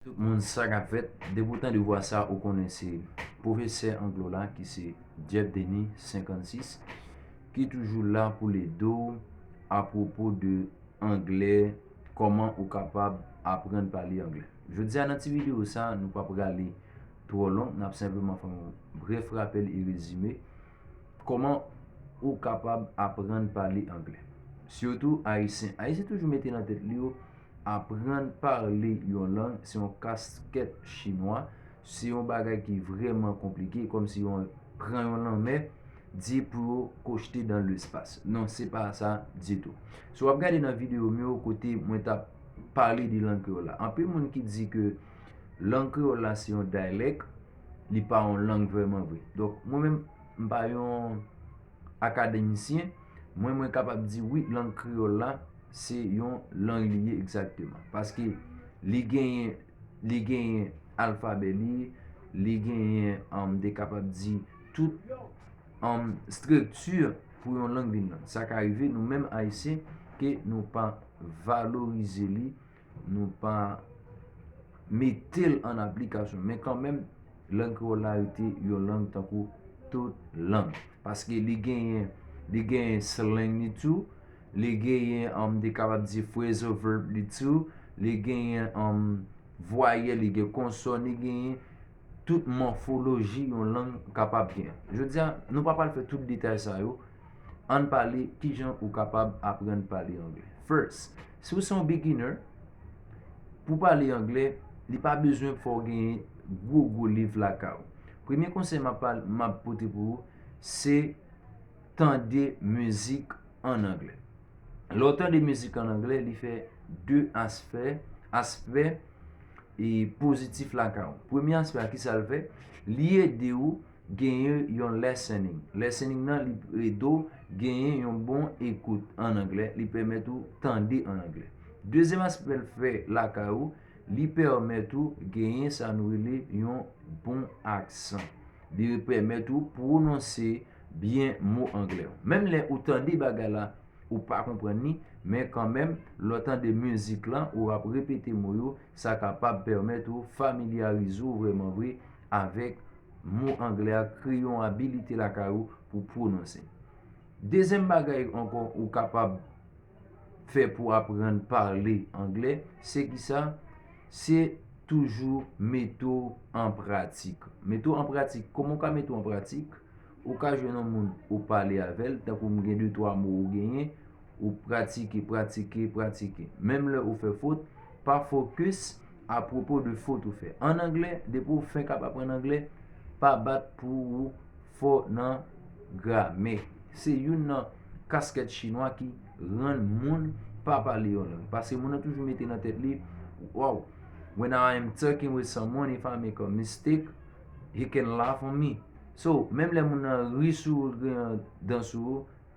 Tout moun sa kap fèt depi w tande vwa sa ou konnen se pwofesè anglo la ki se Jeff Denis 56 ki toujou la poul ede w a pwopo de anglè kòman ou kapab aprann pale anglè jodi a nan ti videyo sa nou pap rale twò long nap senpleman fè yon brèf rapèl e rezime kòman ou kapab aprann pale anglè sitou ayisyen ayisyen toujou mete nan tèt li yo Aprann pale yon lang se yon kaskèt chinwa, se yon bagay ki vrèman konplike kòm si yon pran yon lanmè di pou yo kochte dan lespas. Non se pa sa ditou. Si w ap gade nan videyo m yo kote mwen t ap pale de lang kreyòl la, anpil moun ki di ke lang kreyòl la se yon dayalèk, li pa yon lang vrèman vre. Donk mwen menm m pa yon. akademisyen, mwen mwen kapab di wi lang kreyòl la se yon lang li ye egzakteman. Paske li genyen li genyen alfabè li, li genyen m te kapab di tout estrikti pou yon lang vin lang. Sa ka rive nou menm ayisyen ke nou pa valorize li. nou pa mete l an aplikasyon. Men kanmenm, lang kreyòl la rete yon lang tankou tout lang. Paske li genyen, li genyen slang li tou, li genyen, m te kapab di phrasal verb li tou, li genyen vwayèl, li gen konsòn, li genyen tout mòfoloji yon lang kapab gen. Jodi a, nou pa pral fè tout detay sa yo, ann pale kijan ou kapab aprann pale angle. First. Si w se yon beginner, pou pale anglè, li pa bezwen fè w genyen gwo gwo liv lakay ou. Premye konsèy m ap pote pou ou, se tande mizik an anglè. Lè w tande mizik an anglè, li fè 2 aspè, aspè pozitif lakay ou. Premye aspè a, ki sa l fè? Li ede ou. Genyen yon listening. Listening nan li ede w genyen yon bon ekout an anglè, li pèmèt ou tande an anglè. Dezyèm aspè l fè lakay ou, li pèmèt ou genyen sa nou rele yon bon aksan. Li pèmèt ou pwononse byen mo anglè yo. Menm lè ou tande bagay la, ou pa konprann li, men kanmenm lè w tande mizik lan ou ap repete mo yo, sa kapab pèmèt ou familyarize w vrèman vre avèk mo anglè a kreye yon abilite lakay ou pou pwononse. Dezyèm bagay ankò ou kapab fè pou aprann pale anglè, se ki sa? Se toujou mete w an pratik. Mete w an pratik. Kòman ou ka mete w an pratik? Ou ka jwenn yon moun ou pale avè l, tankou m gen de twa mo ou genyen, ou pratike, pratike, pratike. Menm lè ou fè fot, pa fokis. Apwopo de fot ou fè an anglè, depi ou fenk ap aprann anglè, pa bat pou ou fò nan gramè. Se youn nan kaskèt chinwa ki rann moun pa pale yon lang. Paske moun nan toujou mete nan tèt li, Wow! When I am talking with someone, if I make a mistake, he can laugh on me. So, menm lè moun nan ri sou ou, l gen dan sou ou,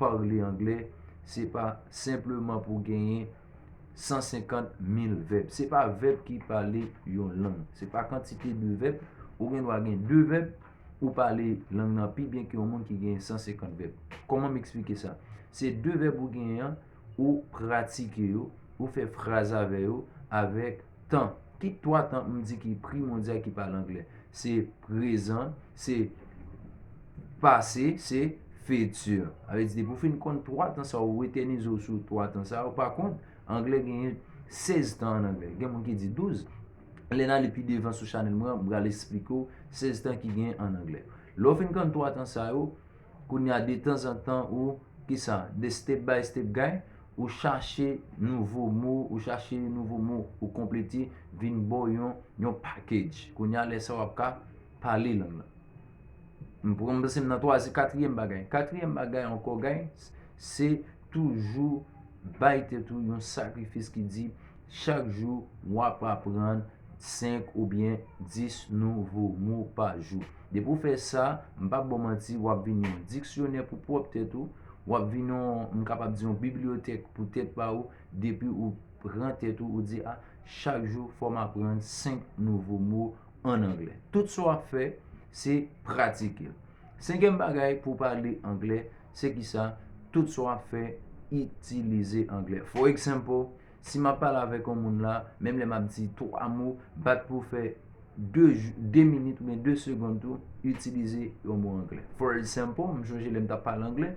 Parle anglè se pa senpleman pou genyen 150 mil vèb. Se pa vèb ki pale yon lang. Se pa kantite de vèb. Ou gen dwa gen 2 vèb, ou pale lang nan pi byen ke yon moun ki genyen 150 vèb. Koman m eksplike sa? Se 2 vèb ou genyen an, ou pratike yo, ou fè fraz avè yo, avèk Tan. Ki twa tan m di ki pri mondyal ki pale angle? Se prezan, se pase, se fiti. A vle di depi ou fin konn twa tan sa ou etènize w sou twa tan sa yo. Pa kont, angle genyen sèz tan an angle. Gen moun ki di douz. Lè n ale pi devan sou chanèl mwen an, m pral esplike w sèz tan ki genyen an angle. Lè w fin konn twa tan sa yo. Kounya de tan zan tan ou kisa de step by step guy ou chache nouvo mo ou chache yon nouvo mo ou konplete vin baw yon yon package kounya lè sa wap ka pale lang lan m pran m panse m nan twazi katriyèm bagay katriyèm bagay ankò guys se Toujou bay tèt ou yon sakrifis ki di, Chak jou, w ap aprann 5 oubyen 10 nouvo mo pa jou. Depi w fè sa, m pap ba w manti, w ap vin yon diksyonè pou pwòp tèt ou, w ap vin yon, m kapab di yon bibliyotèk pou tèt pa ou, depi ou pran tèt ou, ou di, a, chak jou fò m aprann 5 nouvo mo ann anglè. Tout sa w ap fè, se pratike l. Senkyèm bagay pou pale anglè se ki sa, tout sa w ap fè itilize anglè. For example, si m ap pale avèk yon moun la, menm lè m ap di 3 mo, bat pou w fè 2 minit oubyen 2 segond tou itilize yon mo anglè. For example, m chonje lè m t ap pale anglè,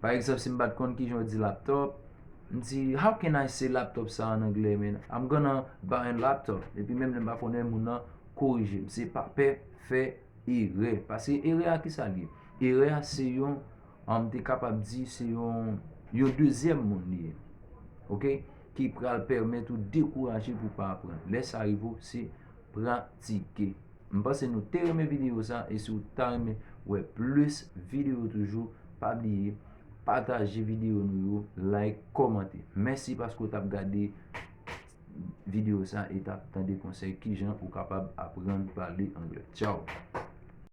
pa egzanp si m pa t konn ki jan yo di laptop, m di, how can I say laptop sa an anglè man? I'm gonna buy a laptop. Epi menm lè m pa konnen moun nan korije m. Se pa pè fè. Erè, pase erè a kisa li ye? Erè a se yon, m te kapab di se yon, yon dezyèm moun li ye. Ok, ki pral pèmèt ou dekouraje pou pa aprann. Lè sa rive ou, se pratike. M panse nou te renmen videyo sa, e si ou ta renmen wè plis videyo toujou, pa bliye pataje videyo nou yo, like, kòmante. Mèsi paske ou t ap gade. video sa e tap tande konsèy kijan ou kapab aprann pale anglè. Tchaww.